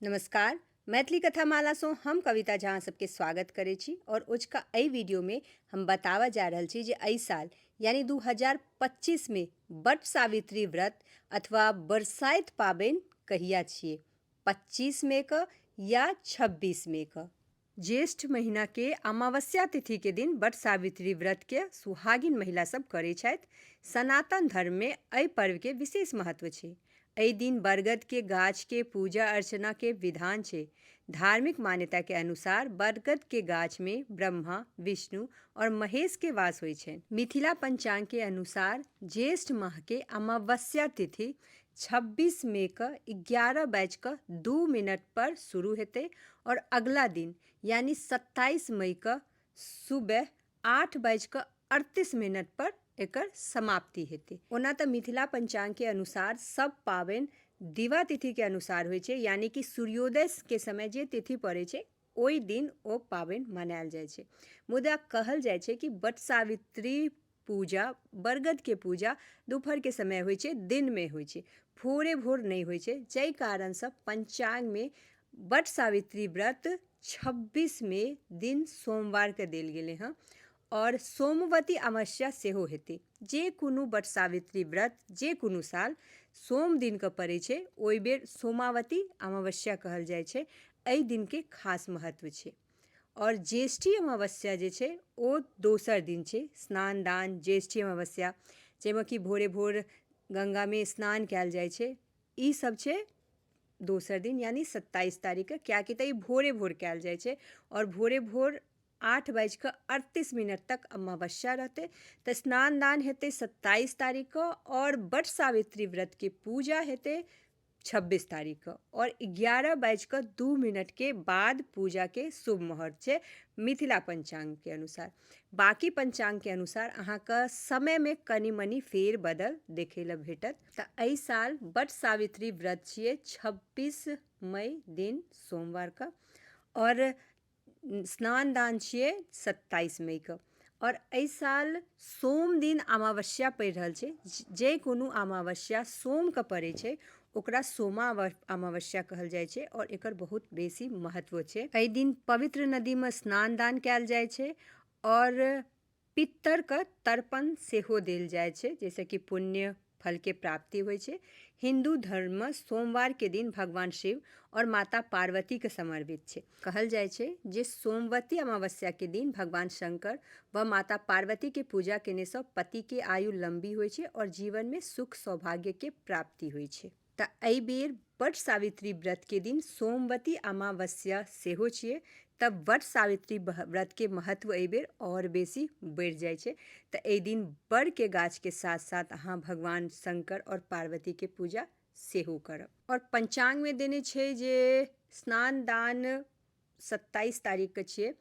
नमस्कार मैथिली कथा मालासँ हम कविता झा अहाँ सबके स्वागत करै छी आओर ओजका एहि वीडियोमे हम बताबऽ जा रहल छी जे एहि साल यानी 2025 मे बट सावित्री व्रत अथवा बरसाइत पाबनि कहिया छियै 25 मे क या 26 मे क ज्येष्ठ महीना के अमावस्या तिथि के दिन वट सावित्री व्रत के सुहागिन महिला सब करै छथि। सनातन धर्म में अइ पर्व के विशेष महत्व छै। अइ दिन बरगद के गाछ के पूजा-अर्चना के विधान छै। धार्मिक मान्यता के अनुसार बरगद के गाछ में ब्रह्मा, विष्णु और महेश के वास होय छैन। मिथिला पंचांग के अनुसार ज्येष्ठ माह के अमावस्या तिथि छब्बीस मे कऽ एगारह बाजि कऽ दू मिनट पर शुरू हेतै आओर अगिला दिन यानि सत्ताइस मइ कऽ सुबह आठ बाजि कऽ अड़तीस मिनट पर एकर समाप्ति हेतै ओना तऽ मिथिला पञ्चाङ्ग के अनुसार सभ पाबनि दिवा तिथि के अनुसार होइ छै यानि कि सूर्योदय के समय जे तिथि पड़ै छै ओहि दिन ओ पाबनि मनायल जाइ छै मुदा कहल जाइ छै कि वट सावित्री पूजा बरगदके पूजा दुपहरके समय होइ छै दिनमे होइ छै भोरे भोर नहि होइ छै जाहि कारणसँ पञ्चाङ्गमे वट सावित्री व्रत छब्बीसमे दिन सोमवारके देल गेलै हँ आओर सोमवती अमावस्या सेहो हेतै जे कोनो वट सावित्री व्रत जे कोनो साल सोम दिनके पड़ै छै ओहि बेर सोमावती अमावस्या कहल जाइ छै एहि दिनके खास महत्व छै आओर ज्येष्ठी अमावस्या जे छै ओ दोसर दिन छै स्नान दान ज्येष्ठी अमावस्या जाहिमे कि भोरे भोर गङ्गामे स्नान कयल जाइ छै ई सब छै दोसर दिन यानि सत्ताइस तारीखके कियाकि तऽ ई भोरे भोर कयल जाइ छै आओर भोरे भोर आठ बाजि कऽ अड़तीस मिनट तक अमावस्या रहतै तऽ स्नान दान हेतै सत्ताइस तारीखके आओर वट सावित्री व्रतके पूजा हेतै छब्बीस तारीख के और ग्यारह बाजि कऽ दू मिनट के बाद पूजा के शुभ मुहूर्त छै मिथिला पंचांग के अनुसार बाकी पंचांग के अनुसार अहाँके समय में कनी मनी फेर बदल देखे ला भेटत तऽ एहि साल बट सावित्री व्रत छियै छब्बीस मई दिन सोमवार के और स्नान दान छियै सत्ताइस मई कऽ आओर एहि साल सोम दिन अमावस्या पड़ि रहल छै जे कोनो अमावस्या सोम कऽ पड़ै छै ओकरा सोमा अमावस्या कहल जाइ छै आओर एकर बहुत बेसी महत्व छै एहि दिन पवित्र नदीमे स्नान दान कयल जाइ छै आओर पितरके तर्पण सेहो देल जाइ छै जाहिसँ कि पुण्य फलके प्राप्ति होइ छै हिन्दू धर्ममे सोमवारके दिन भगवान शिव आओर माता पार्वतीके समर्पित छै कहल जाइ छै जे सोमवती अमावस्याके दिन भगवान शंकर व माता पार्वतीके पूजा केनेसँ पतिके आयु लम्बी होइ छै आओर जीवनमे सुख सौभाग्यके प्राप्ति होइ छै तऽ एहि बेर वट सावित्री व्रतके दिन सोमवती अमावस्या सेहो छियै तऽ वट सावित्री व्रतके महत्व एहि बेर आओर बेसी बढ़ि जाइ छै तऽ एहि दिन बड़के गाछके साथ साथ अहाँ भगवान शंकर आओर पार्वतीके पूजा सेहो करब आओर पञ्चाङ्गमे देने छै जे स्नान दान सत्ताइस तारीखके छियै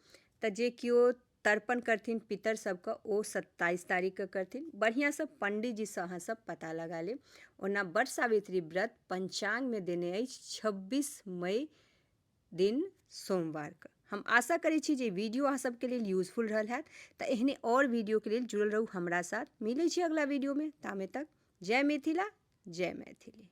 तऽ जे केओ तर्पण करथिन पितर सबके ओ सत्ताइस तारीखके करथिन बढ़िआँसँ पण्डीजीसँ अहाँसब पता लगा लेब ओना बट सावित्री व्रत पञ्चाङ्गमे देने अछि छब्बीस मई दिन सोमवारके हम आशा करै छी जे वीडियो अहाँ सबके लेल यूजफुल रहल हैत तऽ एहने आओर वीडियोके लेल जुड़ल रहू हमरा साथ मिलै छी अगिला वीडियोमे तामे तक जय मिथिला जय मैथिली